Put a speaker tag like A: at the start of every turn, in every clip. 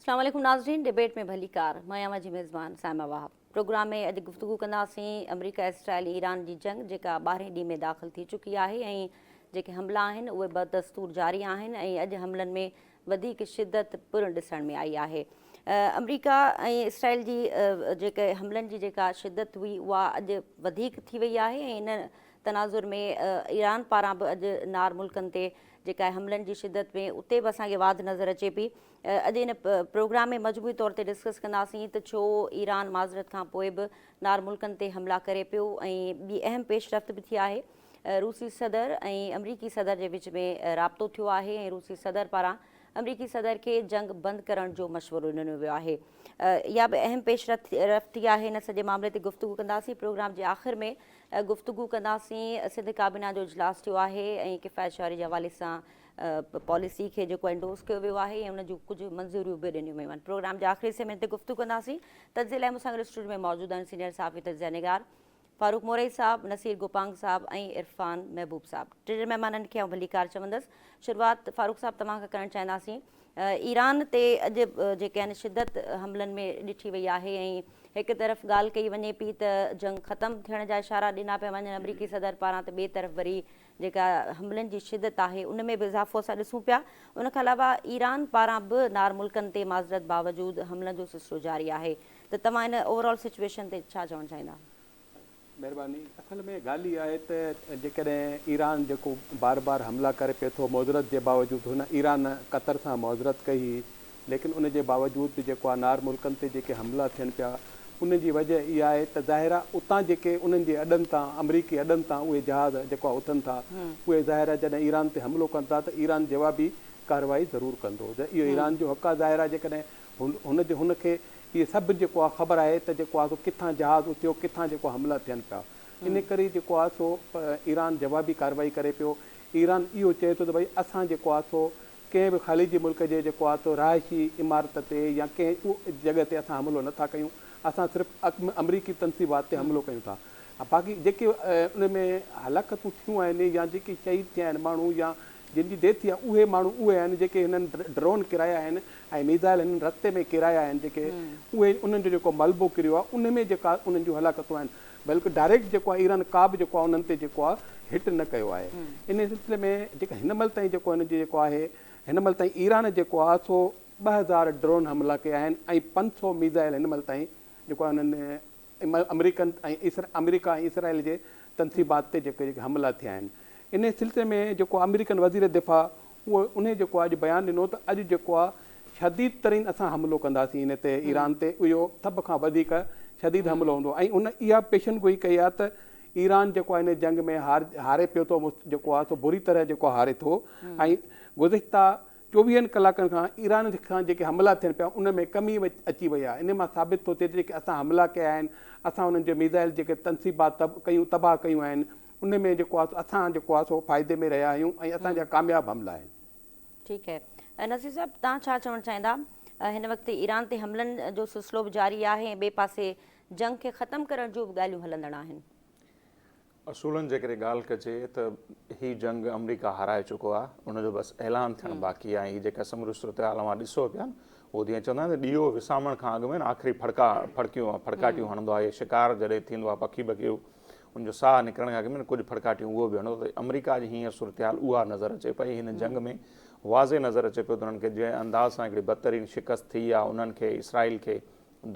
A: اسلام عليڪم ناظرين ڊبيٽ ۾ ڀليڪار مان اوهان جي ميزبان سائما واهب پروگرام ۾ اڄ گفتگو ڪنداسين آمريڪا اسرائيل ايران جي جنگ جيڪا ٻارهين ڏينهن ۾ داخل ٿي چڪي آهي ۽ جيڪي حملا آهن اهي بدستور جاري آهن ۽ اڄ حملن ۾ وڌيڪ شدت پڻ ڏسڻ ۾ آئي آهي. آمريڪا ۽ اسرائيل جي جيڪي حملن جي جيڪا شدت هئي اها اڄ وڌيڪ ٿي وئي آهي ۽ ان تناظر ۾ ايران پاران به اڄ نار ملڪن تي جيڪا حملن جي شدت ۾ اتي به اسان کي واڌ نظر اچي پئي. اڄ ان پروگرام ۾ مجموعي طور تي ڊسڪس ڪنداسين ته ڇو ايران معذرت کان پوء به نار ملڪن تي حملا ڪري پيو ۽ ٻي اهم پيش رفت به ٿي آهي. روسي صدر ۽ آمريڪي صدر جي وچ ۾ رابطو ٿيو آهي ۽ روسي صدر پاران آمريڪي صدر کي جنگ بند ڪرڻ جو مشورو ڏنو ويو آهي اها به اهم پيش رفت ٿي آهي ان سڄي معاملي تي گفتگو ڪنداسين پروگرام جي آخر ۾ گفتگو ڪنداسين سنڌ ڪابينا جو اجلاس ٿيو آهي ۽ ڪفايت شعري جي حوالي سان پاليسي کي جيڪو انڊوس ڪيو ويو آهي ان جون ڪجهه منظوريون به ڏنيون ويون آهن پروگرام جي آخري سيمن تي گفتگو ڪنداسين تجزئي لاء مون سان گڏ اسٽوڊيو ۾ موجود آهن سينيئر صحافي تجزئه نگار فاروق مورئي صاحب، نصير گوپانگ صاحب ۽ عرفان محبوب صاحب ٽي مھمانن کي آئون ڀليڪار چوندس. شروعات فاروق صاحب توھان کان ڪرڻ چاھينداسين. ايران تي اڄ جيڪي آھن شدت حملن ۾ ڏٺي وئي آھي ۽ ھڪ طرف ڳالھ ڪئي وڃي پئي ته جنگ ختم ٿيڻ جا اشارا ڏنا پيا وڃن آمريڪي صدر پاران ته ٻئي طرف وري جيڪا حملن جي شدت آهي ان ۾ به اضافو اسان ڏسون پيا، ان کان علاوه ايران پاران به نار ملڪن تي معذرت باوجود حملن جو سلسلو جاري آهي ته توهان ان اوور آل سچوئيشن تي ڇا چوڻ چاهيندا؟ مهرباني،
B: اصل ۾ ڳالهه اها آهي ته جيڪڏهن ايران جيڪو بار بار حملا ڪري پئي ٿو معذرت جي باوجود هن ايران قطر سان معذرت ڪئي هئي ليڪن ان جي باوجود به جيڪو انار ملڪن تي جيڪي حملا ٿين پيا ان جي وجه اها آهي ته ظاهر آهي اتان جيڪي انهن جي اڏن تان آمريڪي اڏن تان اهي جهاز جيڪو آهي اٿن ٿا اهي ظاهر آهي جڏهن ايران تي حملو ڪن ٿا ته ايران جوابي ڪارروائي ضرور ڪندو ته اهو ايران جو حق آهي ظاهر آهي جيڪڏهن هن جي هن کي اهي سڀ جيڪو آهي خبر آهي ته جيڪو آهي سو ڪٿان جهاز اٿيو ڪٿان جيڪو حملا ٿين پيا ان ڪري جيڪو آهي سو ايران جوابي ڪارروائي ڪري پيو ايران اهو چئي ٿو ته ڀئي اسان جيڪو آهي سو ڪنهن به خليجي ملڪ جي جيڪو آتو رهائشي عمارت تي يا ڪنهن جڳهه تي اسان حملو نه ٿا ڪيون اسان صرف امريڪي تنصيبات تي حملو ڪيون ٿا باقي جيڪي ان ۾ هلاڪتون ٿيون آهن يا جيڪي شهيد ٿيا آهن ماڻهو يا جن جي ڊيٿ ٿي آهي اهي ماڻهو اهي آهن جيڪي هنن ڊرون ڪرايا آهن ۽ ميزائل هنن رستي ۾ ڪيرايا آهن جيڪي اهي انهن جو جيڪو ملبو ڪريو آهي ان ۾ جيڪا انهن جون هلاڪتون آهن بلڪ ڊائريڪٽ جيڪو آهي ايران ڪابه جيڪو آهي انهن تي جيڪو آهي هٽ نه ڪيو آهي انهي سلسلي ۾ جيڪا هن مهل تائين جيڪو هن جي جيڪو آهي هن مهل تائين ايران جيڪو آهي سو ٻه هزار ڊرون حملا ڪيا آهن ۽ پنج سؤ ميزائل هن مهل تائين جيڪو آهي انهن آمريڪن ۽ آمريڪا ۽ اسرائيل جي تنصيبات تي جيڪي جيڪي حملا ٿيا آهن انهي سلسلي ۾ جيڪو آمريڪن وزير دفاع اهو انهي جيڪو آهي اڄ بيان ڏنو ته اڄ جيڪو آهي شديد ترين اسان حملو ڪنداسين ان تي ايران تي اهو سڀ کان وڌيڪ شديد حملو هوندو ۽ ان اها پيشن گوئي ڪئي آهي ته ايران جيڪو آهي ان جنگ ۾ هار هاري پيو ٿو جيڪو آهي سو بري طرح جيڪو هاري ٿو ۽ گذشته چوويهن ڪلاڪن کان ايران کان جيڪي حملا ٿين پيا ان ۾ ڪمي اچي وئي آهي ان مان ثابت ٿو ٿئي ته جيڪي اسان حملا ڪيا آهن اسان انهن جي ميزائل جيڪي تنصيبات ڪيون تباهه ڪيون آهن ان ۾ جيڪو آهي سو اسان جيڪو آهي سو فائدي ۾ رهيا آهيون ۽ اسان جا ڪامياب حملا آهن. ٺيڪ هي
A: نصير صاحب توهان ڇا چوڻ چاهيندا هن وقت ايران تي حملن جو سلسلو به جاري آهي ۽ ٻئي پاسي جنگ کي ختم ڪرڻ جون به ڳالهيون هلندڙ آهن.
C: اصولن جيڪڏهن ڳالهه ڪجي ته هي جنگ آمريڪا هارائي چڪو آهي ان جو بس اعلان ٿيڻ باقي آهي هي جيڪا سموريون صورتحال اوهان ڏسو پيا نه اهو جيئن چوندا آهن ته ڏيئو وسامڻ کان اڳ ۾ آخري ڦڙڪا ڦڙڪيون ڦڙڪاٽيون هڻندو آهي شڪار جڏهن ٿيندو آهي پکي بکيو هن جو ساهه نڪرڻ کان اڳ ۾ ڪجهه ڦڙڪاٽيون اهو به هڻو ته آمريڪا جي هينئر صورتحال اها نظر اچي پئي، هن جنگ ۾ واضح نظر اچي پيو ته انهن کي جنهن انداز سان هڪڙي بدترين شڪست ٿي آ انهن کي اسرائيل کي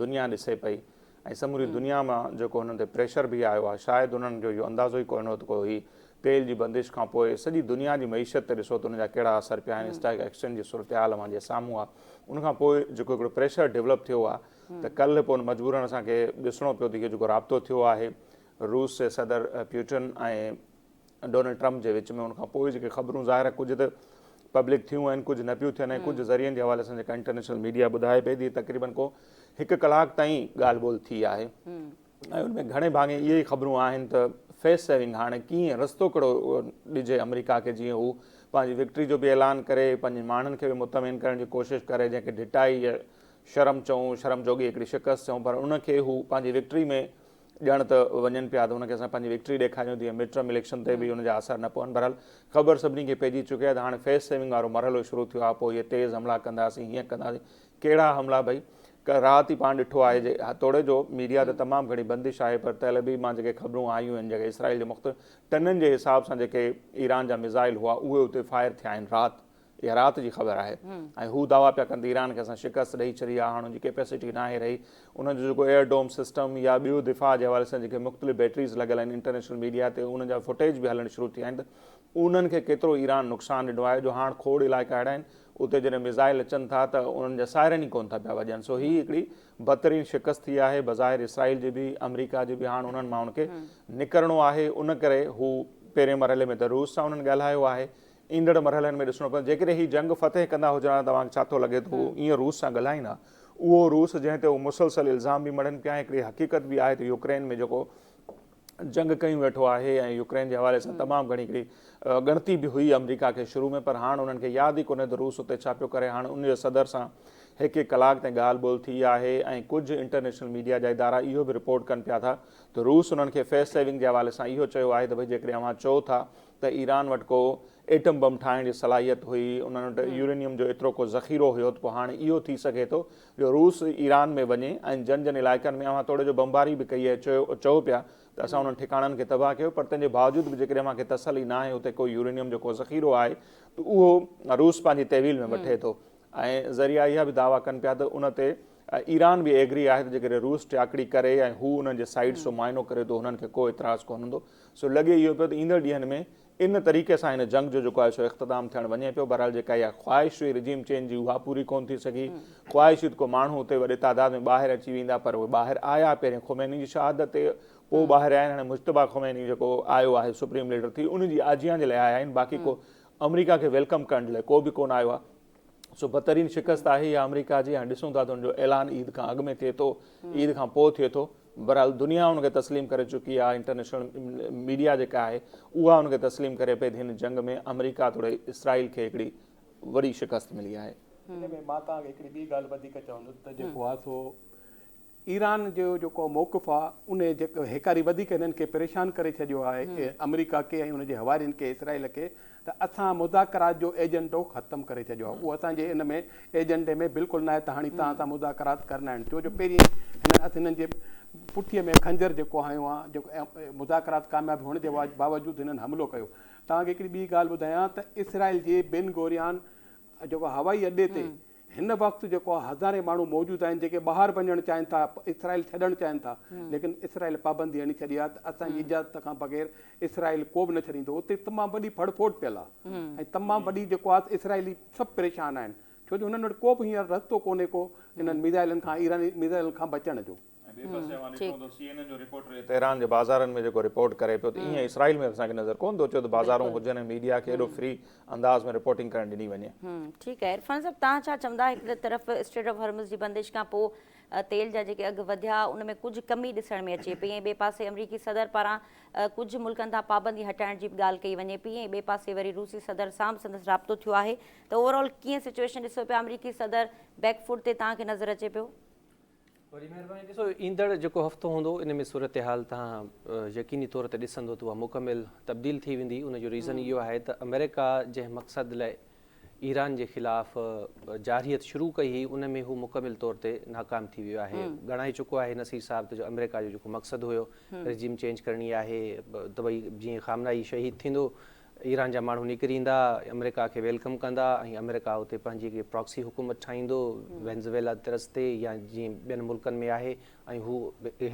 C: دنيا ڏسي پئي ۽ سموري دنيا مان جيڪو هنن تي پريشر به آيو آ شايد انهن جو اهو اندازو ئي ڪونه هو ته ڪو هي تيل جي بندش کان پوء سڄي دنيا جي معيشت تي ڏسو ته ان جا ڪهڙا اثر پيا آهن اسٽاڪ ايڪسچينج جي صورتحال اوهان جي سامهون آ ان کان پوء جيڪو هڪڙو پريشر ڊولپ ٿيو آ ته ڪلهه پون مجبورن اسان کي ڏسڻو پيو ته اهو جيڪو رابطو ٿيو آهي روس جي صدر پيوٽن ۽ ڊونلڊ ٽرمپ جي وچ ۾ ان کان پوء جيڪي خبرون ظاهر آهي ڪجهه ته پبلڪ ٿيون آهن ڪجهه نه پيون ٿين ۽ ڪجهه ذريعن جي حوالي سان جيڪا انٽرنيشنل ميڊيا ٻڌائي پئي ته تقريبن ڪو هڪ ڪلاڪ تائين ڳالهه ٻولهه ٿي آهي ۽ ان ۾ گهڻي ڀاڱي اهي ئي خبرون آهن ته فيس سيونگ هاڻي ڪيئن رستو ڪهڙو ڏجي آمريڪا کي جيئن هو پنهنجي وڪٽري جو به اعلان ڪري پنهنجي ماڻهن کي به مطمئن ڪرڻ جي ڪوشش ڪري جنهن کي ڍٽائي يا شرم چئون شرم جوڳي هڪڙي شڪست چئون پر ان کي هو پنهنجي وڪٽري ۾ ڄڻ ته وڃن پيا ته هن کي اسان پنهنجي وڪٽري ڏيکاريون تيئن مڊٽرم اليڪشن تي به ان جا اثر نه پون بهرحال خبر سڀني کي پئجي چڪي آهي ته هاڻي فيس سيونگ وارو مرحلو شروع ٿيو آهي پوء اهي تيز حملا ڪنداسين هيئن ڪنداسين ڪهڙا حملا ڀئي؟ ڪنهن راهه تي پاڻ ڏٺو آهي جي توڙي جو ميڊيا تي تمام گهڻي بندش آهي پر تيل عبيب مان جيڪي خبرون آيون آهن جيڪي اسرائيل جي مختلف ٽنن جي حساب سان جيڪي ايران جا ميزائل هئا اهي اتي فائر ٿيا آهن رات اها رات جي خبر آهي ۽ هو دعويٰ پيا ڪن ته ايران کي اسان شڪست ڏئي ڇڏي آهي هاڻ ان جي ڪيپيسٽي ناهي رهي انهن جو جيڪو ايئر ڊوم سسٽم يا ٻيو دفاع جي حوالي سان جيڪي مختلف بيٽريز لڳل آهن انٽرنيشنل ميڊيا تي انهن جا فوٽيج به هلڻ شروع ٿي ويا آهن ته انهن کي ڪيترو ايران نقصان ڏنو آهي جو هاڻ کوڙ علائقا اهڙا آهن اتي جڏهن ميزائل اچن ٿا ته انهن جا سائرن ئي ڪونه ٿا پيا وڄن سو هي هڪڙي بدترين شڪست ٿي آهي بظاهر اسرائيل جي به آمريڪا جي به هاڻ انهن ماڻهن کي نڪرڻو آهي ان ڪري هو پهرين مرحلي ۾ ته روس سان انهن ڳالهايو آهي ايندڙ مرحلن ۾ ڏسڻو پوندو جيڪڏهن هي جنگ فتح ڪندا هجن ها ته توهان کي ڇا ٿو لڳي ته هو ائين روس سان ڳالهائين ها اهو روس جنهن تي هو مسلسل الزام به مڙهن پيا ۽ هڪڙي حقيقت به آهي ته يوڪرين ۾ جيڪو جنگ ڪيون ويٺو آهي ۽ يوڪرين جي حوالي سان تمام گهڻي هڪڙي ڳڻتي به هئي آمريڪا کي شروع ۾ پر هاڻ انهن کي ياد ئي ڪونهي ته روس اتي ڇا پيو ڪري هاڻ ان جي صدر سان هڪ هڪ ڪلاڪ تائين ڳالهه ٻولهه ٿي آهي ۽ ڪجهه انٽرنيشنل ميڊيا جا ادارا اهو به رپورٽ ڪن پيا ٿا ته روس انهن کي فيس سيونگ جي حوالي سان اهو چيو آهي ته ڀئي جيڪڏهن اوهان چئو ٿا ته ايران وٽ ڪو ايٽم بم ٺاهڻ جي صلاحيت هئي انهن وٽ يورينيم جو ايترو ڪو ذخيرو هيو ته پوء هاڻ اهو ٿي سگهي ٿو جو روس ايران ۾ وڃي ۽ جن جن علائقن ۾ اوهان توڙي جو بمباري به ڪئي آهي چيو چئو پيا ته اسان انهن ٺڪاڻن کي تباهه ڪيو پر تنهن جي باوجود به جيڪڏهن اوهان کي تسلي ناهي اتي ڪو يورينيم جو ڪو ذخيرو آهي ته اهو روس پنهنجي تحويل ۾ وٺي ٿو ۽ ذريعا اها به دعويٰ ڪن پيا ته ان تي ايران به ايگري آهي ته جيڪڏهن روس ٽياڪڙي ڪري ۽ هو انهن جي سائيٽس جو معائنو ڪري ته انهن کي ڪو اعتراض ڪونه هوندو سو لڳي اهو پيو ته ايندڙ ڏينهن ۾ ان طريقي سان هن جنگ جو جيڪو آهي سو اختتام ٿيڻ وڃي پيو. بهرحال جيڪا اها خواهش هئي رجيم چينج جي اها پوري ڪونه ٿي سگهي. خواهش هئي ته ڪو ماڻهو اتي وڏي تعداد ۾ ٻاهر اچي ويندا پر اهي ٻاهر آيا پهرين خميني جي شهادت تي پوء ٻاهر آيا آهن. هاڻي مجتبيٰ خميني جيڪو آيو آهي سپريم ليڊر ٿي ان جي آجيان جي لاء آيا آهن باقي ڪو آمريڪا کي ويلڪم ڪرڻ جي لاء ڪو به ڪونه آيو آهي. سو بدترين شڪست آهي اها آمريڪا جي هاڻي ڏسون ٿا ته ان جو اعلان عيد کان اڳ ۾ ٿئي ٿو عيد کان پوء ٿئي ٿو. بھرحال دنيا ان کي تسليم ڪري چڪي آھي انٽرنيشنل ميڊيا جيڪا آھي اھا ان کي تسليم ڪري پئي تھ ھن جنگ ۾ آمريڪا توڙي اسرائيل کي ھڪڙي وڏي شڪست ملي آھي. ان ۾ مان توھان کي
B: ھڪڙي ٻي ڳالھ وڌيڪ چوندس تھ جيڪو آھي سو ايران جو جيڪو موقف آھي ان جيڪو ھيڪاري وڌيڪ ھنن کي پريشان ڪري ڇڏيو آھي آمريڪا کي ۽ ان جي ھوارين کي اسرائيل کي ته اسان مذاڪرات جو ايجنڊو ختم ڪري ڇڏيو آهي اهو اسان جي ان ۾ ايجنڊي ۾ بلڪل ناهي ته هاڻي توهان سان مذاڪرات ڪرڻا آهن ڇو جو پهرين هنن اسان هنن جي پٺي ۾ خنجر جيڪو هنيو آهي جيڪو مذاڪرات ڪامياب هئڻ جي باوجود هنن حملو ڪيو توهان کي هڪڙي ٻي ڳالهه ٻڌايان ته اسرائيل جي بن گوريان جيڪو هوائي اڏي تي هن وقت جيڪو هزارين ماڻهو موجود آهن جيڪي ٻاهر وڃڻ چاهين ٿا اسرائيل ڇڏڻ چاهين ٿا ليڪن اسرائيل پابندي هڻي ڇڏي آهي ته اسان جي اجازت کان بغير اسرائيل ڪو به نه ڇڏيندو اتي تمام وڏي ڦڙ ڦوٽ پيل آهي ۽ تمام وڏي جيڪو آهي اسرائيلي سڀ پريشان آهن ڇو جو هنن وٽ ڪو به هينئر رستو ڪونهي ڪو انهن ميزائلن کان ايراني ميزائلن کان بچڻ جو. ۽ ٻئي پاسي اوهان ڏٺو هوندو سي اين اين جو رپورٽر
C: اهي تهران جي بازارن ۾ جيڪو رپورٽ ڪري پيو ته ايئن اسرائيل ۾ اسان کي نظر ڪونه ٿو اچي ته بازارون هجن ۽ ميڊيا کي ايڏو فري انداز ۾ رپورٽنگ ڪرڻ ڏني وڃي. ٺيڪ آهي عرفان
A: صاحب تهان ڇا چوندا هڪ طرف اسٽريٽ آف هرمز جي بندش کان پوء تيل جا جيڪي اگهه وڌيا ان ۾ ڪجهه ڪمي ڏسڻ ۾ اچي پئي ۽ ٻئي پاسي امريڪي صدر پاران ڪجهه ملڪن تان پابندي هٽائڻ جي به ڳالهه ڪئي وڃي پئي ۽ ٻئي پاسي وري روسي صدر سان به سندس رابطو ٿيو آهي ته اوور آل ڪيئن سچوئيشن ڏسو پيا آمريڪي صدر بيڪ فوٽ تي تهان کي نظر اچي پيو؟ وڏي
D: مهرباني ڏسو ايندڙ جيڪو هفتو هوندو ان ۾ صورتحال تهان يقيني طور تي ڏسندو ته اها مڪمل تبديل ٿي ويندي ان جو ريزن اهو آهي ته آمريڪا جنهن مقصد لاء ايران جي خلاف جارحيت شروع ڪئي هئي ان ۾ هو مڪمل طور تي ناڪام ٿي ويو آهي ڳڻائي چڪو آهي نصير صاحب ته جو آمريڪا جو جيڪو مقصد هيو ريجيم چينج ڪرڻي آهي ته ڀئي جيئن خامنائي شهيد ٿيندو ايران جا ماڻهو نڪري ايندا، آمريڪا کي ويلڪم ڪندا ۽ آمريڪا اتي پنهنجي هڪ پراڪسي حڪومت ٺاهيندو وينزويلا طرز تي يا جيئن ٻين ملڪن ۾ آهي ۽ هو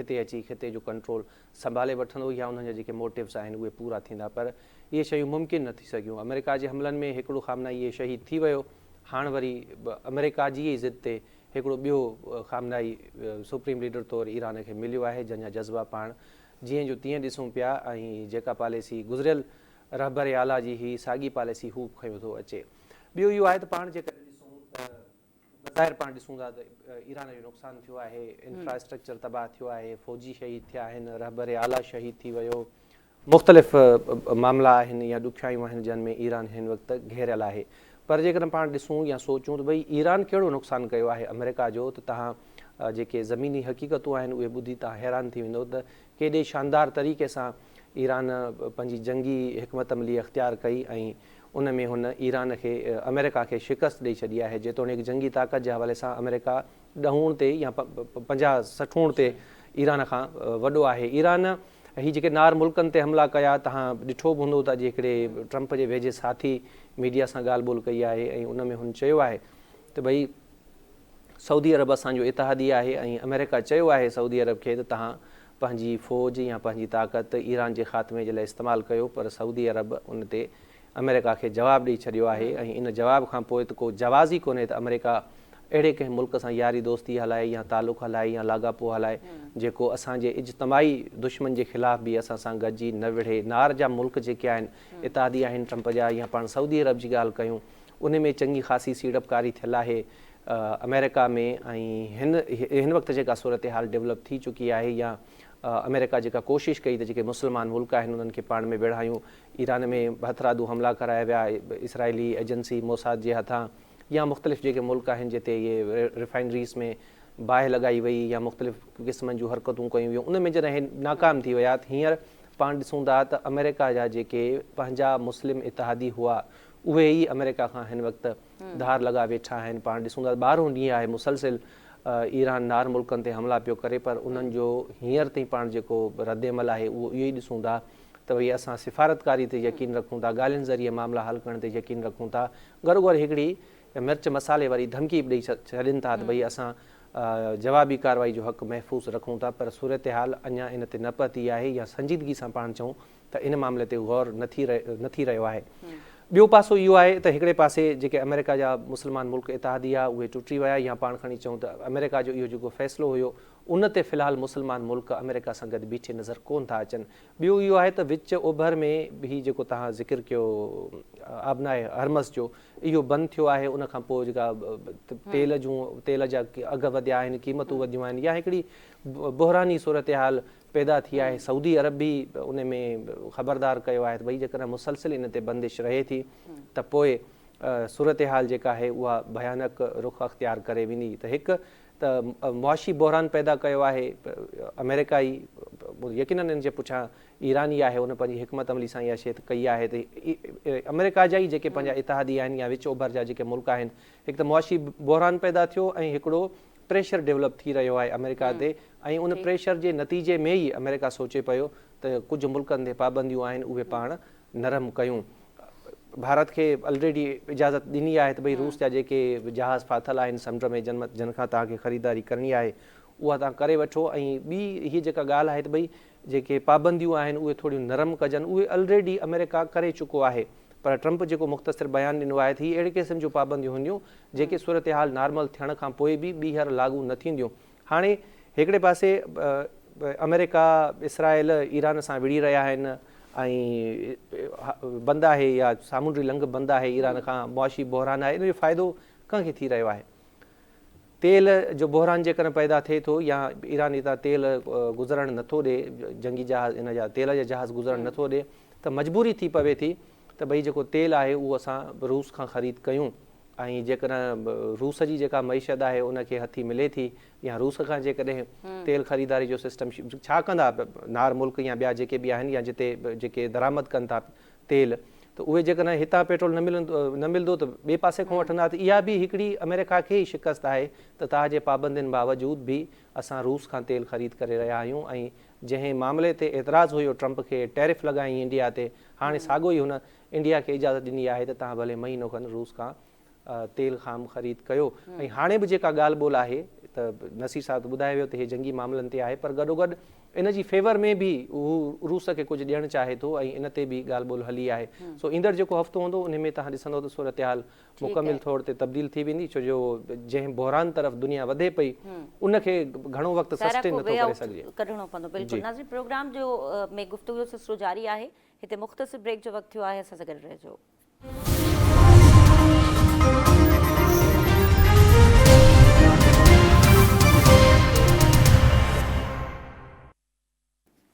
D: هتي اچي خطي جو ڪنٽرول سنڀالي وٺندو يا انهن جا جيڪي موٽوز آهن اهي پورا ٿيندا پر اهي شيون ممڪن نه ٿي سگهيون آمريڪا جي حملن ۾ هڪڙو خامنائي شهيد ٿي ويو هاڻ وري به آمريڪا جي ئي ضد تي هڪڙو ٻيو خامنائي سپريم ليڊر طور ايران کي مليو آهي جنهن جا جذبا پاڻ جيئن جو تيئن ڏسون پيا ۽ جيڪا پاليسي گذريل رهبر اعليٰ جي هئي ساڳي پاليسي هو به کنيو ٿو اچي. ٻيو اهو آهي ته پاڻ جيڪڏهن ڏسون ته بظاهر پاڻ ڏسون ٿا ته ايران جو نقصان ٿيو آهي، انفراسٽرڪچر تباهه ٿيو آهي، فوجي شهيد ٿيا آهن، رهبر اعليٰ شهيد ٿي ويو، مختلف معاملا آهن يا ڏکيائيون آهن جن ۾ ايران هن وقت گهيريل آهي پر جيڪڏهن پاڻ ڏسون يا سوچون ته ڀئي ايران ڪهڙو نقصان ڪيو آهي آمريڪا جو ته تهان جيڪي زميني حقيقتون آهن اهي ٻڌي توهان حيران ٿي ويندؤ ته ڪيڏي شاندار طريقي سان ايران پنهنجي جنگي حڪمت عملي اختيار ڪئي ۽ ان ۾ هن ايران کي آمريڪا کي شڪست ڏئي ڇڏي آهي جيتوڻيڪ جنگي طاقت جي حوالي سان آمريڪا ڏهوڻ تي يا پنجاهه سٺوڻ تي ايران کان وڏو آهي ايران هي جيڪي نار ملڪن تي حملا ڪيا تهان ڏٺو به هوندو ته اڄ هڪڙي ٽرمپ جي ويجهي ساٿي ميڊيا سان ڳالهه ٻولهه ڪئي آهي ۽ ان ۾ هن چيو آهي ته ڀئي سعودي عرب اسان جو اتحادي آهي ۽ آمريڪا چيو آهي سعودي عرب کي ته توهان پنهنجي فوج يا پنهنجي طاقت ايران جي خاتمي جي لاء استعمال ڪيو پر سعودي عرب ان تي آمريڪا کي جواب ڏئي ڇڏيو آهي ۽ ان جواب کان پوء ته ڪو جواز ئي ڪونهي ته آمريڪا اهڙي ڪنهن ملڪ سان ياري دوستي هلائي يا تعلق هلائي يا لاڳاپو هلائي جيڪو اسان جي اجتماعي دشمن جي خلاف به اسان سان گڏجي نه وڙهي نار جا ملڪ جيڪي آهن اتحادي آهن ٽرمپ جا يا پاڻ سعودي عرب جي ڳالهه ڪيون انهي ۾ چڱي خاصي سيڙپڪاري ٿيل آهي آمريڪا ۾ ۽ هن هن وقت جيڪا صورتحال ڊولپ ٿي چڪي آهي يا آمريڪا جيڪا ڪوشش ڪئي ته جيڪي مسلمان ملڪ آهن انهن کي پاڻ ۾ ويڙهايون ايران ۾ هٿرادو حملا ڪرايا ويا اسرائيلي ايجنسي موساد جي هٿان يا مختلف جيڪي ملڪ آهن جتي اهي ريفائنريز ۾ باهه لڳائي وئي يا مختلف قسمن جون حرڪتون ڪيون ويون ان ۾ جڏهن اهي ناڪام ٿي ويا ته هينئر پاڻ ڏسون ٿا ته آمريڪا جا جيڪي پنهنجا مسلم اتحادي هئا اهي ئي آمريڪا کان هن وقت ڌار لڳا ويٺا آهن پاڻ ڏسون ٿا ٻارهون ڏينهن آهي مسلسل ايران نار ملڪن تي حملا پيو ڪري پر انهن جو هينئر تائين پاڻ جيڪو رد عمل آهي اهو اهو ئي ڏسون ٿا ته ڀئي اسان سفارتڪاري تي يقين رکون ٿا ڳالهين ذريعي معاملا حل ڪرڻ تي يقين رکون ٿا گهروگهر هڪڙي مرچ مصالحي واري ڌمڪي به ڏئي ڇڏين ٿا ته ڀئي اسان جوابي ڪارروائي جو حق محفوظ رکون ٿا پر صورتحال اڃا ان تي نه پهتي آهي يا سنجيدگي سان پاڻ چئون ته ان معاملي تي غور نه ٿي نه ٿي رهيو آهي. ٻيو پاسو اهو آهي ته هڪڙي پاسي جيڪي آمريڪا جا مسلمان ملڪ اتحاديه اهي ٽٽي ويا يا پاڻ کڻي چئون ته آمريڪا جو اهو جيڪو فيصلو هيو ان تي في الحال مسلمان ملڪ آمريڪا سان گڏ بيٺي نظر ڪون ٿا اچن. ٻيو اهو آهي ته وچ اوڀر ۾ هي جيڪو توهان ذڪر ڪيو آبناء هرمز جو اهو بند ٿيو آهي ان کان پوء جيڪا تيل جون تيل جا اگهه وڌيا آهن قيمتون وڌيون آهن يا هڪڙي بحراني صورتحال پيدا ٿي آهي سعودي عرب به ان ۾ خبردار ڪيو آهي ته ڀئي جيڪڏهن مسلسل ان تي بندش رهي ٿي ته پوء صورتحال جيڪا آهي اها ڀيانڪ رخ اختيار ڪري ويندي ته هڪ ته معاشي بحران پيدا ڪيو آهي آمريڪا ئي يقينن ان جي پٺيان ايران ئي آهي ان پنهنجي حڪمت عملي سان اها شي ته ڪئي آهي ته آمريڪا جا ئي جيڪي پنهنجا اتحادي آهن يا وچ اوڀر جا جيڪي ملڪ آهن هڪ ته معاشي بحران پيدا ٿيو ۽ هڪڙو پريشر ڊولپ ٿي رهيو آهي آمريڪا تي ۽ ان پريشر جي نتيجي ۾ ئي آمريڪا سوچي پيو ته ڪجهه ملڪن تي پابنديون آهن اهي پاڻ نرم ڪيون ڀارت کي الريڊي اجازت ڏني آهي ته ڀئي روس جا جيڪي جهاز ڦاٿل آهن سمنڊ ۾ جن کان توهان کي خريداري ڪرڻي آهي اها توهان ڪري وٺو ۽ ٻي هي جيڪا ڳالهه آهي ته ڀئي جيڪي پابنديون آهن اهي ٿوريون نرم ڪجن اهي الريڊي آمريڪا ڪري چڪو آهي پر ٽرمپ جيڪو مختصر بيان ڏنو آهي ته هي اهڙي قسم جون پابنديون هونديون جيڪي صورتحال نارمل ٿيڻ کان پوء به ٻيهر لاڳو نه ٿينديون هاڻي هڪڙي پاسي آمريڪا اسرائيل ايران سان وڙهي رهيا آهن ۽ بند آهي يا سامونڊي لنگهه بند آهي ايران کان معاشي بحران آهي ان جو فائدو ڪنهن کي ٿي رهيو آهي تيل جو بحران جيڪڏهن پيدا ٿئي ٿو يا ايران اتان تيل گذرڻ نه ٿو ڏئي، جنگي جهاز ان جا تيل جا جهاز گذرڻ نه ٿو ڏئي ته مجبوري ٿي پوي ٿي ته ڀئي جيڪو تيل آهي اهو اسان روس کان خريد ڪيون ۽ جيڪڏهن روس جي جيڪا معيشت آهي ان کي هٿي ملي ٿي يا روس کان جيڪڏهن تيل خريداري جو سسٽم ڇا ڪندا نار ملڪ يا ٻيا جيڪي به آهن يا جتي جيڪي درآمد ڪن ٿا تيل ته اهي جيڪڏهن هتان پيٽرول نه ملندو نه ملندو ته ٻئي پاسي کان وٺندا ته اها به هڪڙي آمريڪا کي ئي شڪست آهي ته تاء جي پابندين باوجود به اسان روس کان تيل خريد ڪري رهيا آهيون ۽ جنهن معاملي تي اعتراض هيو ٽرمپ کي ٽيرف لڳائين انڊيا تي هاڻي ساڳو ئي هن انڊيا کي اجازت ڏني آهي ته تهان ڀلي مهينو کن روس کان تيل خام خريد ڪيو ۽ هاڻي به جيڪا ڳالهه ٻولهه آهي ته نصير صاحب ته ٻڌائي ويو ته هي جنگي معاملن تي آهي پر گڏوگڏ ان جي فيور ۾ به هو روس کي ڪجهه ڏيڻ چاهي ٿو ۽ ان تي به ڳالهه ٻولهه هلي آهي سو ايندڙ جيڪو هفتو هوندو ان ۾ توهان ڏسندو ته صورتحال مڪمل طور تي تبديل ٿي ويندي ڇو جو جنهن بحران طرف دنيا وڌي پئي ان کي گهڻو وقت سسٽين نٿو ڪري سگهجي ڪڍڻو پوندو بلڪل
A: ناظرين پروگرام جو ۾ گفتگو جو سلسلو جاري آهي هتي مختصر بريڪ جو وقت ٿيو آهي اسان سان گڏ رهجو.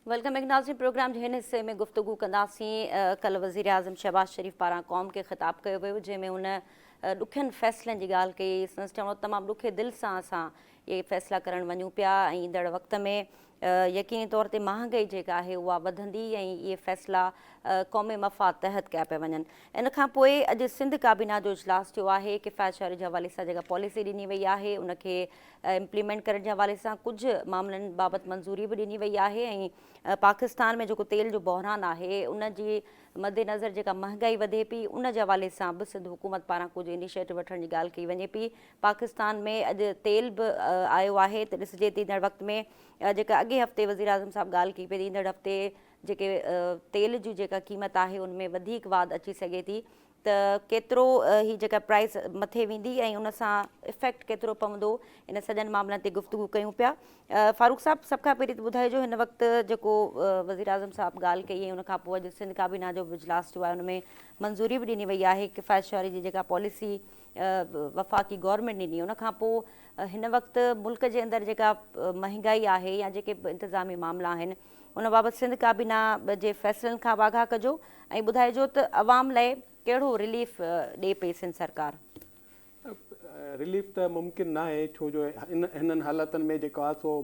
A: ويلڪم بيڪ ناظرين پروگرام جي هن حصي ۾ گفتگو ڪنداسين ڪلهه وزيراعظم شهباز شريف پاران قوم کي خطاب ڪيو ويو جنهن ۾ هن ڏکين فيصلن جي ڳالهه ڪئي سنس چوڻ تمام ڏکي دل سان اسان اهي فيصلا ڪرڻ وڃون پيا ۽ ايندڙ وقت ۾ يقيني طور تي مهانگائي جيڪا آهي اها وڌندي ۽ اهي فيصلا قومي مفاد تحت ڪيا پيا وڃن ان کان پوء اڄ سنڌ ڪابينا جو اجلاس ٿيو آهي ڪفايت شهري جي حوالي سان جيڪا پاليسي ڏني وئي آهي ان کي امپليمينٽ ڪرڻ جي حوالي سان ڪجهه معاملن بابت منظوري به ڏني وئي آهي ۽ پاڪستان ۾ جيڪو تيل جو بحران آهي ان جي مد نظر جيڪا مهانگائي وڌي پي ان جي حوالي سان به سنڌ حڪومت پاران ڪجهه انيشيٽو وٺڻ جي ڳالهه ڪئي وڃي پي پاڪستان ۾ اڄ تيل به آيو آهي ته ڏسجي ته ايندڙ وقت ۾ جيڪا اڳئين هفتي وزيراعظم صاحب ڳالهه ڪئي پئي ته ايندڙ هفتي جيڪي تيل جي جيڪا قيمت آهي ان ۾ وڌيڪ واڌ اچي سگهي ٿي ته ڪيترو هي جيڪا پرائس مٿي ويندي ۽ ان سان افيڪٽ ڪيترو پوندو ان سڄن معاملن تي گفتگو ڪيون پيا فاروق صاحب سڀ کان پهرين ته ٻڌائي جو هن وقت جيڪو وزيراعظم صاحب ڳالهه ڪئي ۽ ان کان پوء اڄ سنڌ ڪابينا جو به اجلاس ٿيو آهي ان ۾ منظوري به ڏني وئي آهي ڪفايت شعري جي جيڪا پاليسي وفاقي گورنمينٽ ڏني ان کان پوء هن وقت ملڪ جي اندر جيڪا مهنگائي آهي يا جيڪي به انتظامي معاملا آهن ان بابت سنڌ ڪابينا جي فيصلن کان واگها ڪجو ۽ ٻڌائجو ته عوام لاء ڪهڙو رليف ڏي پئي سنڌ سرڪار.
B: رليف ته ممڪن ناهي ڇو جو هنن حالاتن ۾ جيڪو آهي سو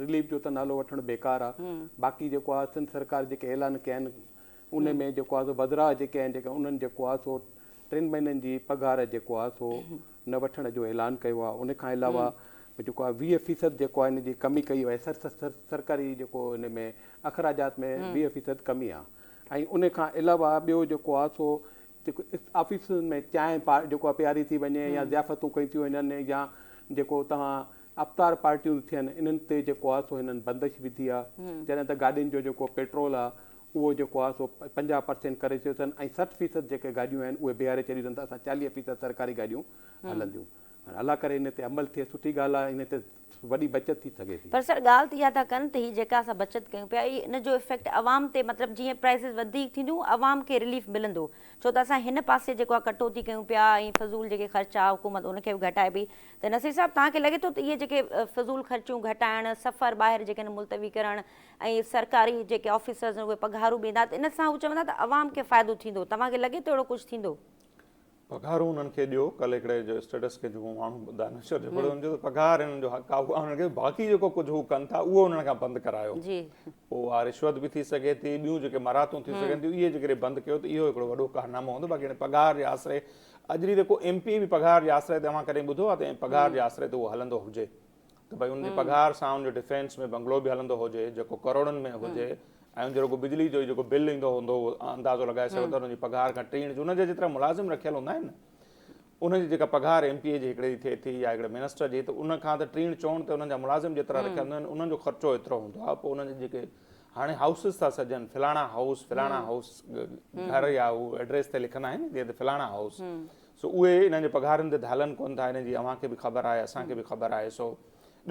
B: رليف جو ته نالو وٺڻ بيڪار آهي باقي جيڪو آهي سنڌ سرڪار جيڪي اعلان ڪيا آهن ان ۾ جيڪو آهي سو وزرا جيڪي آهن جيڪي انهن جيڪو آهي سو ٽن مهينن جي پگهار جيڪو آهي سو نه وٺڻ جو اعلان ڪيو آهي ان کان علاوه جيڪو آهي ويهه فيصد جيڪو آهي ان جي ڪمي ڪئي وئي سرڪاري جيڪو ان ۾ اخراجات ۾ ويهه فيصد ڪمي آهي ۽ ان کان علاوه ٻيو جيڪو آهي سو جيڪو آفيسن ۾ چانهه پا جيڪو آهي پياري ٿي وڃي يا ضيافتون ڪيون ٿيون وڃن يا جيڪو توهان افطار پارٽيون ٿيون انهن تي جيڪو آهي سو هنن بندش وڌي آهي جڏهن ته گاڏين جو جيڪو پيٽرول آهي اهو جيڪو آهي سو پنجاهه پرسينٽ ڪري ڇڏيو اٿن ۽ سٺ فيصد جيڪي گاڏيون آهن اهي بيهاري ڇڏيون اٿن ته اسان چاليهه فيصد سرڪاري گاڏيون هلنديون هاڻي الله ڪري ان تي عمل ٿئي سٺي ڳالهه آهي ان تي وڏي بچت ٿي سگهي ٿي. پر سر ڳالهه ته اها ٿا
A: ڪن ته هي جيڪا اسان بچت ڪيون پيا اهي ان جو افيڪٽ عوام تي مطلب جيئن پرائسز وڌيڪ ٿينديون عوام کي رليف ملندو ڇو ته اسان هن پاسي جيڪو آهي ڪٽوتي ڪيون پيا ۽ فضول جيڪي خرچ آهي حڪومت ان کي به گهٽائي پئي ته نصير صاحب توهان کي لڳي ٿو ته اهي جيڪي فضول خرچيون گهٽائڻ سفر ٻاهر جيڪي آهن ملتوي ڪرڻ ۽ سرڪاري جيڪي آفيسرز آهن اهي پگهارون ڏيندا ته ان سان هو چوندا ته عوام کي فائدو ٿيندو توهان کي لڳي ٿو اهڙو ڪجهه ٿيندو؟ پگهارون
C: انهن کي ڏيو ڪل هڪڙي جو اسٽيٽس کي جيڪو ماڻهو ٻڌا نشر جو پڙهيو ان چيو ته پگهار انهن جو حق آهي اها انهن کي باقي جيڪو ڪجهه هو ڪن ٿا اهو انهن کان بند ڪرايو پوء اها رشوت به ٿي سگهي ٿي ٻيون جيڪي مراعتون ٿي سگهن ٿيون اهي جيڪڏهن بند ڪيو ته اهو هڪڙو وڏو ڪارنامو هوندو باقي هن پگهار جي آسري اڄ ريت ڪو ايم پي به پگهار جي آسري تي اوهان ڪڏهن ٻڌو آهي ته پگهار جي آسري تي اهو هلندو هجي ته ڀاء ان جي پگهار سان ان جو ڊفينس ۾ بنگلو به هلندو هجي جيڪو ڪروڙن ۾ هجي ۽ ان جو رڳو بجلي جو ئي جيڪو بل ايندو هوندو اهو اندازو لڳائي سگهو ٿا ان جي پگهار کان ٽيڻ جو ان جا جيترا ملازم رکيل هوندا آهن ان جي جيڪا پگهار ايم پي اي جي هڪڙي جي ٿئي ٿي يا هڪڙي منسٽر جي ته ان کان ته ٽيڻ چوڻ تي انهن جا ملازم جيترا رکيل هوندا آهن انهن جو خرچو ايترو هوندو آهي پوء انهن جي جيڪي هاڻي هائوسز ٿا سجن فلاڻا هائوس فلاڻا هائوس گهر يا هو ايڊريس تي لکندا آهن جيئن ته فلاڻا هائوس سو اهي انهن جي پگهارن تي ڌالن ڪون ٿا انهن جي اوهان کي به خبر آهي اسان کي به خبر آهي سو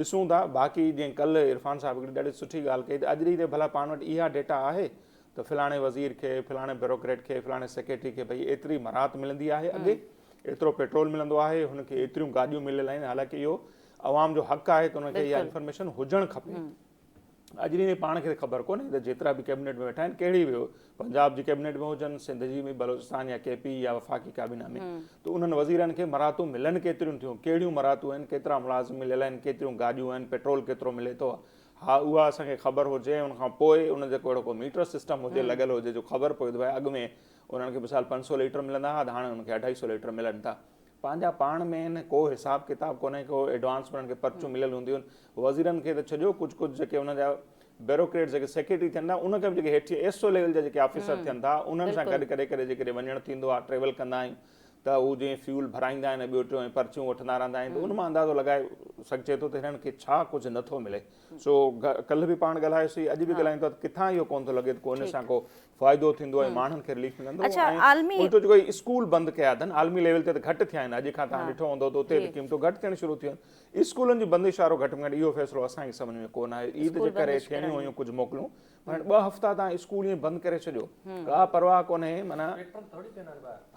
C: ڏسون ٿا باقي جيئن ڪلهه عرفان صاحب هڪڙي ڏاڍي سٺي ڳالهه ڪئي ته اڄ ڏينهن تي ڀلا پاڻ وٽ اها ڊيٽا آهي ته فلاڻي وزير کي فلاڻي بيروڪريٽ کي فلاڻي سيڪريٽري کي ڀئي ايتري مراعت ملندي آهي اڳي ايترو پيٽرول ملندو آهي هن کي ايتريون گاڏيون مليل آهن حالانڪه اهو عوام جو حق آهي ته ان کي اها انفارميشن هجڻ کپي اڄرينء ۾ پاڻ کي خبر ڪونهي ته جيترا به ڪيبنيٽ ۾ ويٺا آهن ڪهڙي به پنجاب جي ڪيبنيٽ ۾ هجن سنڌ جي ۾ بلوچستان يا ڪي پي يا وفاقي ڪابينا ۾ ته انهن وزيرن کي مراعتون ملن ڪيتريون ٿيون ڪهڙيون مراعتون آهن ڪيترا ملازم مليل آهن ڪيتريون گاڏيون آهن پيٽرول ڪيترو ملي ٿو ها اها اسان کي خبر هجي ان کان پوء ان جو ڪهڙو ڪو ميٽر سسٽم هجي لڳل هجي جو خبر پوي ته اڳ ۾ انهن کي مثال پنج سؤ ليٽر ملندا هئا ته هاڻي انهن کي اڍائي سؤ ليٽر ملن ٿا پنهنجا پاڻ ۾ ڪو حساب ڪتاب ڪونهي ڪو ايڊوانس انهن کي پرچون مليل هونديون آهن وزيرن کي ته ڇڏيو ڪجهه ڪجهه جيڪي انهن جا بيروڪريٽس جيڪي سيڪريٽري ٿين ٿا انهن کي به جيڪي هيٺ ايس او ليول جا جيڪي آفيسر ٿين ٿا انهن سان گڏ ڪڏهن ڪڏهن جيڪڏهن وڃڻ ٿيندو آهي ٽريول ڪندا آهيون ته هو جيئن فيول ڀرائيندا آهن ۽ ٻيو ٽيون ۽ پرچيون وٺندا رهندا آهن ته ان مان اندازو لڳائي سگهجي ٿو ته هنن کي ڇا ڪجهه نٿو ملي سو ڪلهه به پاڻ ڳالهايوسين اڄ به ڳالهايون ٿا ته ڪٿان اهو ڪونه ٿو لڳي ته ڪو ان سان ڪو فائدو ٿيندو ۽ ماڻهن کي رليف ملندو اڇا عالمي ۽ الٽو جيڪو هي اسڪول بند ڪيا اٿن عالمي ليول تي ته گهٽ ٿيا آهن اڄ کان تهان ڏٺو هوندو ته اتي به قيمتون گهٽ ٿيڻ شروع ٿيون اسڪولن جي بندش وارو گهٽ ۾ گهٽ اهو فيصلو اسان جي سمجهه ۾ ڪونه آيو عيد جي ڪري ٿيڻيون هيون ڪجهه موڪلون پر ٻه هفتا تهان اسڪول ائين بند ڪري ڇڏيو ڪا پرواهه ڪونه معنيٰ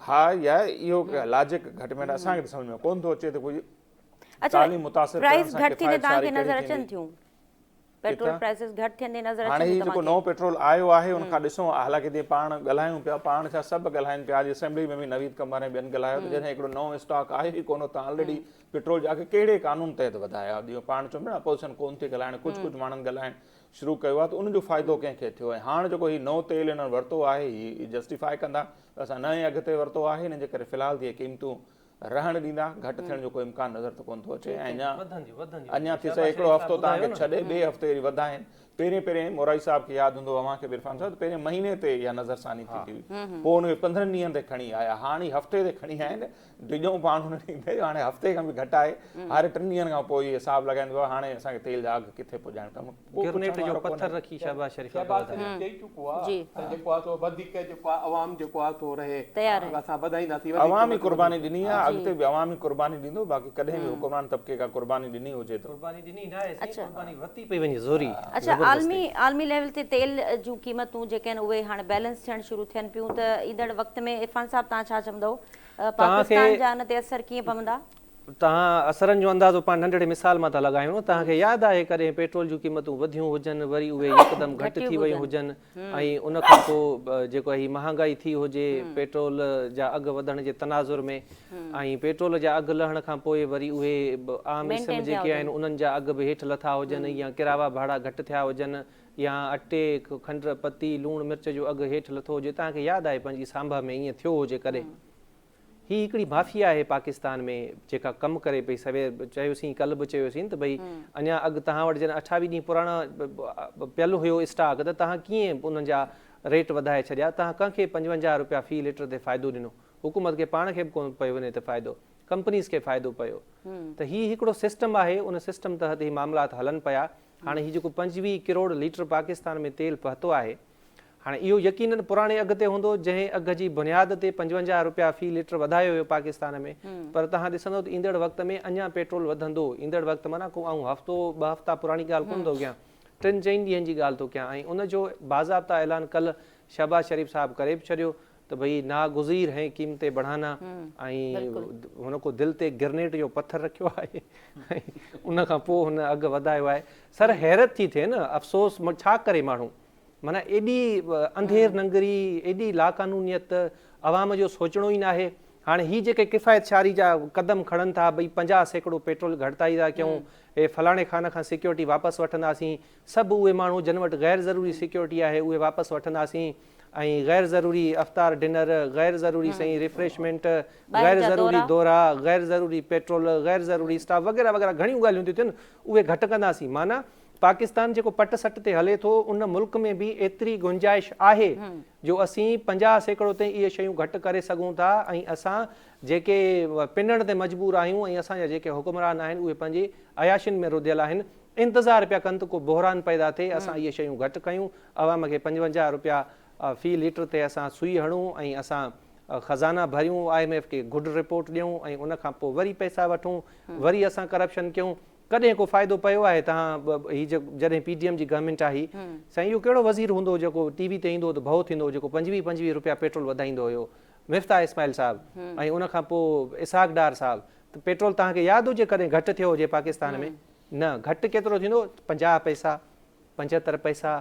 C: ها يا اهو لاجڪ گهٽ ۾ گهٽ اسان کي سمجهه ۾ ڪونه ٿو اچي ته ڪجهه تعليم متاثر ڪرڻ سان ڪفايت ساري ڪهڙي ٿيندي پيٽرول
A: پرائسز گهٽ ٿيندي نظر اچن ٿيون توهان کي. هاڻي هي جيڪو نئون پيٽرول آيو
C: آهي ان کان ڏسون ها حالانڪه جيئن پاڻ ڳالهايون پيا پاڻ ڇا سڀ ڳالهائن پيا اڄ اسيمبلي ۾ به نويد قمر ۽ ٻين ڳالهايو ته جڏهن هڪڙو نئون اسٽاڪ آيو ئي ڪونه اتان آلريڊي پيٽرول جا اگهه ڪهڙي قانون تحت وڌايا جيئن پاڻ چون پيا نه اپوزيشن ڪونه ٿي ڳالهائڻ ڪجهه ڪجهه ماڻهن ڳالهائڻ شروع ڪيو آهي ته ان جو فائدو ڪنهن کي ٿيو ۽ هاڻ جيڪو هي نئون تيل هنن ورتو آهي هي جسٽيفائي ڪندا ته اسان نئين اگهه تي ورتو آهي ان جي ڪري في الحال تي اهي قيمتون رهڻ ڏيندا، گهٽ ٿيڻ جو ڪو امڪان نظر ته ڪونه ٿو اچي ۽ اڃا اڃا ٿي سگهي هڪڙو هفتو توهان کي ڇڏي ٻئي هفتي وري وڌائين، پهرين پهرين مورائي صاحب کي ياد هوندو اوهان کي به عرفان صاحب ته پهرين مهيني تي اها نظر ثاني ٿيندي هئي پوء ان کي پندرهن ڏينهن تي کڻي آيا هاڻ هي هفتي تي کڻي آيا آهن ڊڄون پاڻ هن ڏينهن تي هاڻي هفتي کان به گهٽ آهي هر ٽن ڏينهن کان پوء هي حساب لڳائيندو آهي هاڻي اسان کي تيل جا اگهه ڪٿي پڄائڻ گرنيٽ جو پٿر رکي شهباز
D: شريف کي وڌايو. شهباز شريف چئي چڪو آ
B: ته جيڪو آ سو وڌيڪ جيڪو آ عوام جيڪو آ سو رهي اسان وڌائينداسين. عوام ئي قرباني ڏني
C: آ اڳتي به عوام ئي قرباني ڏيندو باقي ڪڏهن به حڪمران طبقي ڪا قرباني ڏني هجي ته. قرباني ڏني ناهي سائين
D: قرباني ورتي پئي وڃي زوري. اڇا عالمي
A: عالمي ليول تي تيل جون قيمتون جيڪي آهن اهي هاڻي بيلنس ٿيڻ شروع ٿين پيون ته ايندڙ وقت ۾ عرفان صاحب توهان ڇا چوندؤ پاڪستان جا ان تي اثر ڪيئن پوندا؟ توهان
D: اثرن جو اندازو پاڻ ننڍڙي مثال مان ٿا لڳايون، توهان کي ياد آهي ڪڏهن پيٽرول جون قيمتون وڌيون هجن وري اهي يڪدم گهٽ ٿي ويون هجن ۽ ان کان پوء جيڪو هي مهانگائي ٿي هجي پيٽرول جا اگهه وڌڻ جي تناظر ۾ ۽ پيٽرول جا اگهه لهڻ کان پوء وري اهي عام اسم جيڪي آهن انهن جا اگهه به هيٺ لٿا هجن يا ڪراوا ڀاڙا گهٽ ٿيا هجن يا اٽي، کنڊ، پتي، لوڻ مرچ جو اگهه هيٺ لٿو هجي توهان کي ياد آهي پنهنجي سانڀا ۾ ائين ٿيو هجي ڪڏهن؟ هي هڪڙي مافيا آهي پاڪستان ۾ جيڪا ڪم ڪري پئي سوير چيوسين ڪل به چيوسين ته ڀئي اڃا اڳ توهان وٽ جڏهن اٺاويهه ڏينهن پراڻا پيل هيو اسٽاڪ ته توهان ڪيئن انهن جا ريٽ وڌائي ڇڏيا توهان ڪنهن کي پنجونجاهه رپيا في ليٽر تي فائدو ڏنو حڪومت کي پاڻ کي به ڪون پيو ان تي فائدو ڪمپنيز کي فائدو پيو ته هي هڪڙو سسٽم آهي ان سسٽم تحت هي معاملات هلن پيا هاڻي هي جيڪو پنجويهه ڪروڙ ليٽر پاڪستان ۾ تيل پهتو آهي هاڻي اهو يقينن پراڻي اگهه تي هوندو جنهن اگهه جي بنياد تي پنجونجاهه رپيا في لٽر وڌايو ويو پاڪستان ۾ پر توهان ڏسندو ته ايندڙ وقت ۾ اڃان پيٽرول وڌندو ايندڙ وقت معنيٰ ڪو آئون هفتو ٻه هفتا پراڻي ڳالهه ڪونه ٿو ڪيان ٽن چئن ڏينهن جي ڳالهه ٿو ڪيان ۽ ان جو باضابطا اعلان ڪلهه شهباز شريف صاحب ڪري به ڇڏيو ته ڀئي ناگزير هين قيمتي بڙهانا ۽ هن ڪو دل تي گرنيٽ جو پٿر رکيو آهي ۽ ان کان پوء هن اگهه وڌايو آهي سر حيرت ٿي ٿئي نه افسوس ڇا ڪري ماڻهو معنيٰ ايڏي انڌير ننگري ايڏي لاقانونيت عوام جو سوچڻو ئي ناهي هاڻي هي جيڪي ڪفايت شعاري جا قدم کڻن ٿا ڀئي پنجاهه سيڪڙو پيٽرول گهٽتائي ٿا ڪيون هي فلاڻي خان کان سيڪيورٽي واپس وٺنداسين سڀ اهي ماڻهو جن وٽ غير ضروري سيڪيورٽي آهي اهي واپس وٺنداسين ۽ غير ضروري افطار ڊنر، غير ضروري سائين ريفريشمينٽ، غير ضروري دورا، غير ضروري پيٽرول، غير ضروري اسٽاف وغيره وغيره گهڻيون ڳالهيون ٿيون ٿين اهي گهٽ ڪنداسين معنيٰ پاڪستان جيڪو پٽ سٽ تي هلي ٿو ان ملڪ ۾ به ايتري گنجائش آهي جو اسين پنجاهه سيڪڙو تائين اهي شيون گهٽ ڪري سگهون ٿا ۽ اسان جيڪي پنڻ تي مجبور آهيون ۽ اسان جا جيڪي حڪمران آهن اهي پنهنجي عياشين ۾ رڌيل آهن انتظار پيا ڪن ته ڪو بحران پيدا ٿئي اسان اهي شيون گهٽ ڪيون عوام کي پنجونجاهه رپيا في ليٽر تي اسان سوئي هڻون ۽ اسان خزانا ڀريون، آء ايم ايف کي گڊ رپورٽ ڏيون ۽ ان کان پوء وري پئسا وٺون، وري اسان ڪرپشن ڪيون، ڪڏهن ڪو فائدو پيو آهي توهان هي جڏهن پي ڊي ايم جي گورنمينٽ آهي سائين اهو ڪهڙو وزير هوندو هو جيڪو ٽي وي تي ايندو هو ته ڀئو ٿيندو هو جيڪو پنجويهه پنجويهه رپيا پيٽرول وڌائيندو هيو مفتاح اسماعيل صاحب ۽ ان کان پوء اسحاق ڊار صاحب ته پيٽرول توهان کي ياد هجي ڪڏهن گهٽ ٿيو هجي پاڪستان ۾ نه گهٽ ڪيترو ٿيندو پنجاهه پئسا پنجهتر پئسا،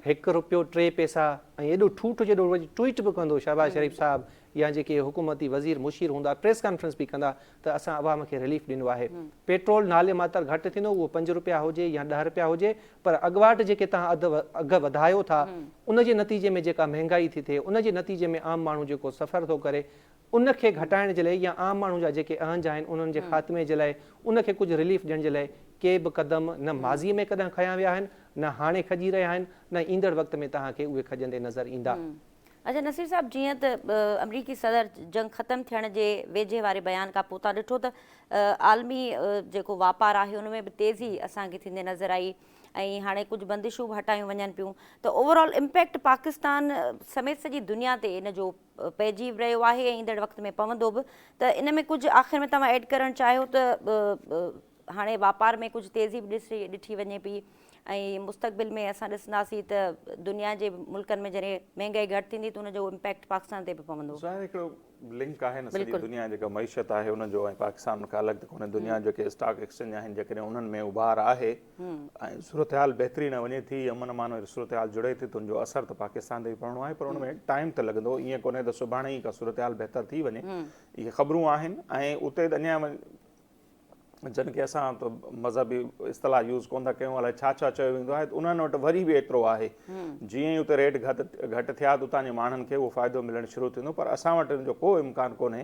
D: هڪ رپيو ٽي پئسا ۽ ايڏو ٺوٺ جو اهو ٽوئيٽ به ڪندو شهباز شريف صاحب يا جيڪي حڪومتي وزير مشير هوندا پريس ڪانفرنس به ڪندا ته اسان عوام کي رليف ڏنو آهي پيٽرول نالي ماتر گهٽ ٿيندو اهو پنج رپيا هجي يا ڏهه رپيا هجي پر اڳواٽ جيڪي توهان اگهه وڌايو ٿا ان جي نتيجي ۾ جيڪا مهنگائي ٿي ٿئي ان جي نتيجي ۾ عام ماڻهو جيڪو سفر ٿو ڪري ان کي گهٽائڻ جي لاء يا عام ماڻهو جا جيڪي اهنج آهن انهن جي خاتمي جي لاء ان کي ڪجهه رليف ڏيڻ جي لاء ڪي به قدم نه ماضي ۾ ڪڏهن کنيا ويا آهن نه هاڻي کنجي رهيا آهن نه ايندڙ وقت ۾ توهان کي اهي کنجندي نظر ايندا. اچا نصير
A: صاحب جيئن ته آمريڪي صدر جنگ ختم ٿيڻ جي ويجهي واري بيان کان پوء تان ڏٺو ته عالمي جيڪو واپار آهي ان ۾ به تيزي اسان کي ٿيندي نظر آئي ۽ هاڻي ڪجهه بندشون به هٽايون وڃن پيون ته اوور آل امپيڪٽ پاڪستان سميت سڄي دنيا تي ان جو پئجي به رهيو آهي ۽ ايندڙ وقت ۾ پوندو به ته ان ۾ ڪجهه آخر ۾ توهان ايڊ ڪرڻ چاهيو ته هاڻي واپار ۾ ڪجهه تيزي به ڏٺي وڃي پئي ۽ مستقبل ۾ اسان ڏسنداسين ته دنيا جي ملڪن ۾ جڏهن مهنگائي گهٽ ٿيندي ته ان جو امپيڪٽ پاڪستان تي به پوندو. ظاهر هڪڙو
C: لنڪ آهي نه سڄي دنيا جيڪا معيشت آهي ان جو ۽ پاڪستان ان کان الڳ ته ڪونهي دنيا جيڪي اسٽاڪ ايڪسچينج آهن جيڪڏهن انهن ۾ اڀار آهي ۽ صورتحال بهتري نه وڃي ٿي، امن امان واري صورتحال جڙي ٿي ته ان جو اثر ته پاڪستان تي به پوڻو آهي پر ان ۾ ٽائيم ته لڳندو، ائين ڪونهي ته سڀاڻي ئي ڪا صورتحال بهتر ٿي وڃي، اهي خبرون آهن ۽ اتي اڃا جن کي اسان ته مذهبي اصطلاح يوز ڪونه ٿا ڪيون الائي ڇا ڇا چيو ويندو آهي ته انهن وٽ وري به ايترو آهي جيئن ئي اتي ريٽ گهٽ ٿيا ته اتان جي ماڻهن کي اهو فائدو ملڻ شروع ٿيندو پر اسان وٽ ان جو ڪو امڪان ڪونهي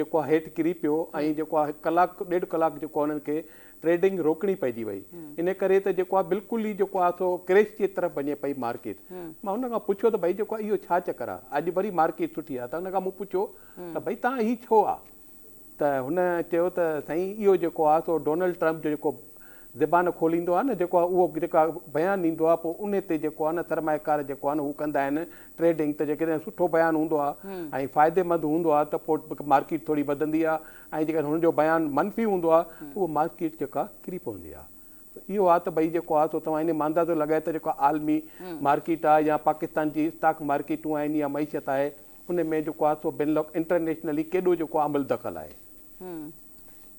B: جيڪو آ هيٺ ڪري پيو ۽ جيڪو آ ڪلاڪ ڏيڍ ڪلاڪ جيڪو آ انهن کي ٽريڊنگ روڪڻي پئجي وئي ان ڪري ته جيڪو آ بلڪل ئي جيڪو آ سو ڪريش جي طرف وڃي پئي مارڪيٽ مان هن کان پڇيو ته ڀئي جيڪو اهو ڇا چڪر آ اڄ وري مارڪيٽ سٺي آ ته هن کان مون پڇيو ته ڀئي تان هي ڇو آ ته هن چيو ته سائين اهو جيڪو آ سو ڊونلڊ ٽرمپ جو جيڪو زبان کوليندو آهي نه جيڪو اهو جيڪا بيان ڏيندو آهي پوء انهي تي جيڪو آهي نه سرمايه ڪار جيڪو آهي نه هو ڪندا آهن ٽريڊنگ ته جيڪڏهن سٺو بيان هوندو آهي ۽ فائدي مند هوندو آهي ته پوء مارڪيٽ ٿوري وڌندي آهي ۽ جيڪڏهن هن جو بيان منفي هوندو آهي ته اهو مارڪيٽ جيڪا ڪري پوندي آهي سو اهو آهي ته ڀئي جيڪو آهي سو توهان انهي مان اندازو لڳائي ته جيڪو عالمي مارڪيٽ آهي يا پاڪستان جي اسٽاڪ مارڪيٽون آهن يا معيشت آهي انهي ۾ جيڪو آهي سو بين الق انٽرنيشنلي ڪيڏو جيڪو عمل دخل آهي.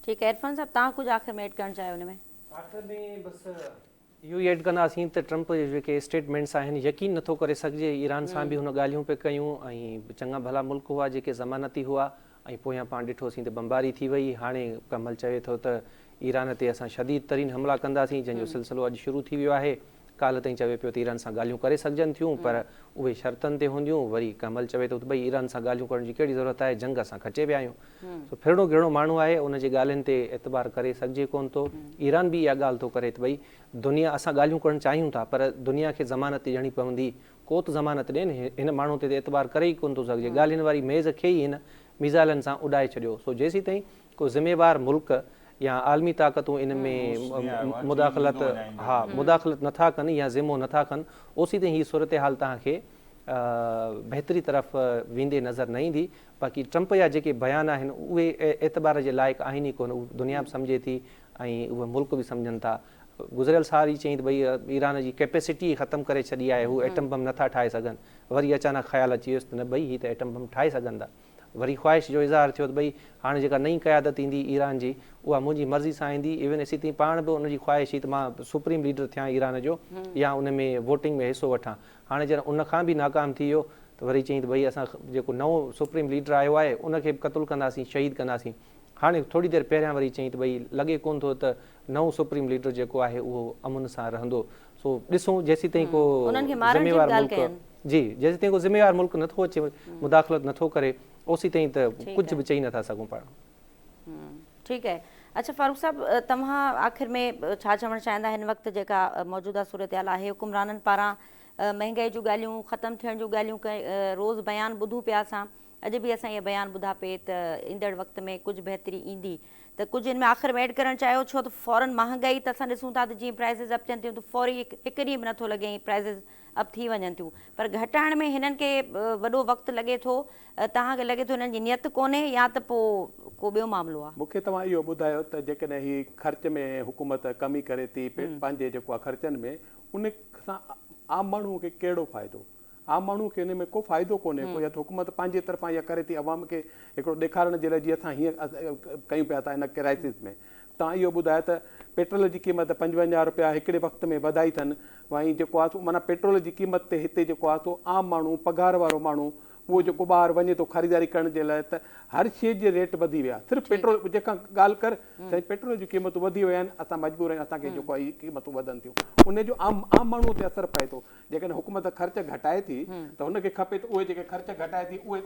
A: ٺيڪ آهي عرفان صاحب تهان ڪجهه آخر ۾ ايڊ ڪرڻ چاهيو ان ۾. آخر ۾ بس
D: اهو ئي ايڊ ڪنداسين ته ٽرمپ جي جيڪي اسٽيٽمينٽس آهن يقين نٿو ڪري سگهجي ايران سان به هن ڳالهيون پئي ڪيون ۽ چڱا ڀلا ملڪ هئا جيڪي ضمانتي هئا ۽ پويان پاڻ ڏٺوسين ته بمباري ٿي وئي هاڻي ڪمل چوي ٿو ته ايران تي اسان شديد ترين حملا ڪنداسين جنهن جو سلسلو اڄ شروع ٿي ويو آهي. ڪالهه تائين چوي پيو ته ايران سان ڳالهيون ڪري سگهجن ٿيون پر اهي شرطن تي هونديون، وري ڪمل چوي ٿو ته ڀئي ايران سان ڳالهيون ڪرڻ جي ڪهڙي ضرورت آهي، جنگ اسان کٽي ويا آهيون. سو ڦرڻو گهرڻو ماڻهو آهي، ان جي ڳالهين تي اعتبار ڪري سگهجي ڪونه ٿو. ايران به اها ڳالهه ٿو ڪري ته ڀئي دنيا اسان ڳالهيون ڪرڻ چاهيون ٿا پر دنيا کي ضمانت ڏيڻي پوندي، ڪو ته ضمانت ڏين، هن ماڻهو تي ته اعتبار ڪري ئي ڪونه ٿو سگهجي، ڳالهين واري ميز کي ئي هن ميزائلن سان اڏائي ڇڏيو، سو جيسيتائين ڪو ذميوار ملڪ يا عالمي طاقتون ان ۾ مداخلت ها مداخلت نه ٿا ڪن يا ذمو نه ٿا کن اوسيتائين هي صورتحال توهان کي بهتري طرف ويندي نظر نه ايندي باقي ٽرمپ يا جيڪي بيان آهن اهي اعتبار جي لائق آهن ئي ڪونه اهي دنيا به سمجهي ٿي ۽ اهي ملڪ به سمجهن ٿا گذريل سال ئي چئين ته ڀئي ايران جي ڪيپيسٽي ئي ختم ڪري ڇڏي آهي هو ايٽم بم نه ٿا ٺاهي سگهن وري اچانڪ خيال اچي ويس ته نه ڀئي هي ته ايٽم بم ٺاهي سگهن ٿا. وري خواهش جو اظهار ٿيو ته ڀئي هاڻي جيڪا نئين قيادت ايندي ايران جي اها منهنجي مرضي سان ايندي ايون اسي تين پاڻ به ان جي خواهش هئي ته مان سپريم ليڊر ٿيان ايران جو يا ان ۾ ووٽنگ ۾ حصو وٺان هاڻي جڏهن ان کان به ناڪام ٿي ويو ته وري چيائين ته ڀئي اسان جيڪو نئون سپريم ليڊر آيو آهي ان کي به قتل ڪنداسين شهيد ڪنداسين هاڻي ٿوري دير پهريان وري چيائين ته ڀئي لڳي ڪونه ٿو ته نئون سپريم ليڊر جيڪو آهي اهو امن سان رهندو سو ڏسون جيسيتائين ڪو ذميوار ملڪ جي جيسيتائين ڪو ذميوار ملڪ نٿو اچي مداخلت نٿو ڪري اوسيتائين ته ڪجهه به چئي نٿا سگهون پاڻ.
A: ٺيڪ آهي اڇا فاروق صاحب توهان آخر ۾ ڇا چوڻ چاهيندا هن وقت جيڪا موجوده صورتحال آهي حڪمرانن پاران مهنگائي جون ڳالهيون ختم ٿيڻ جون ڳالهيون روز بيان ٻڌون پيا اسان اڄ به اسان اهي بيان ٻڌا پئي ته ايندڙ وقت ۾ ڪجهه بهتري ايندي ته ڪجهه ان ۾ آخر ۾ ايڊ ڪرڻ چاهيو ڇو ته فورن مهانگائي ته اسان ڏسون ٿا ته جيئن پرائسز اپ ٿين ٿيون ته فوري هڪ ڏينهن به نٿو لڳي ۽ پرائسز اپ ٿي وڃن ٿيون پر گهٽائڻ ۾ هنن کي وڏو وقت لڳي ٿو توهان کي لڳي ٿو هنن جي نيت ڪونهي يا ته پو ڪو ٻيو معاملو آ. مون کي توهان اهو ٻڌايو
B: ته جيڪڏهن هي خرچ ۾ حڪومت ڪمي ڪري ٿي پنهنجي جيڪو آ خرچن ۾ ان سان عام ماڻهو کي ڪهڙو فائدو. عام ماڻهو کي انهي ۾ ڪو فائدو ڪونهي ڪو يا ته حڪومت پنهنجي طرفان اها ڪري ٿي عوام کي هڪڙو ڏيکارڻ جي لاء جي اسان هيئن ڪيون پيا ٿا ان ڪرائسز ۾ توهان اهو ٻڌايو ته پيٽرول جي قيمت پنجونجاهه رپيا هڪڙي وقت ۾ وڌائي ٿن وائين جيڪو آهي سو معنيٰ پيٽرول جي قيمت تي هتي جيڪو آهي سو عام ماڻهو پگهار وارو ماڻهو اهو جيڪو ٻاهر وڃي ٿو خريداري ڪرڻ جي لاء ته هر شيء جي ريٽ وڌي ويا صرف پيٽرول جنهن کان ڳالهه ڪر سائين پيٽرول جي قيمتون وڌي ويا آهن اسان مجبور آهيون اسان کي جيڪو آهي قيمتون وڌن ٿيون انهي جو عام عام ماڻهو تي اثر پئي ٿو جيڪڏهن حڪومت خرچ گهٽائي ٿي ته هن کي کپي ته اهي جيڪي خرچ گهٽائي ٿي اهي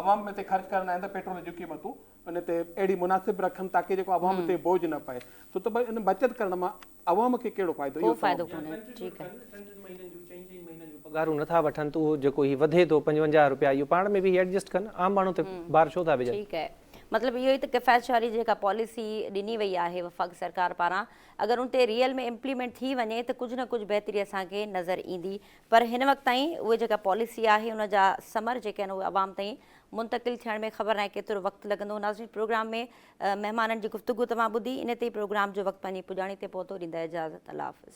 B: عوام تي خرچ ڪرڻ آهن ته پيٽرول جون قيمتون ان تي اهڙي مناسب رکن تاڪه جيڪو عوام تي بوجهه نه پئي ڇو ته ڀاء ان بچت ڪرڻ مان عوام کي ڪهڙو فائدو اهو چئو. يا خرچ ٿيون ڪن ٽن ٽن مهينن جون چئن چئن مهينن
D: جون پگهارون نٿا وٺن ته اهو جيڪو هي وڌي ٿو پنجونجاهه رپيا اهو پاڻ ۾ به هي ايڊجسٽ ڪن عام ماڻهو تي بار ڇو
A: ٿا
D: وجهن. ٺيڪ آهي مطلب
A: اهو ئي ته ڪفايت شعاري جيڪا پاليسي ڏني وئي آهي وفاقي سرڪار پاران اگر ان تي ريئل ۾ امپليمينٽ ٿي وڃي ته ڪجهه نه ڪجهه بهتري اسان کي نظر ايندي پر هن وقت تائين اهي جيڪا پاليسي آهي ان جا ثمر جيڪي آهن اهي عوام تائين منتقل ٿيڻ ۾ خبر ناهي ڪيترو وقت لڳندو ناظرين پروگرام ۾ مهمانن جي گفتگو توهان ٻڌي ان تي پروگرام جو وقت پنهنجي پڄاڻي تي پهتو ڏيندا اجازت الله حافظ.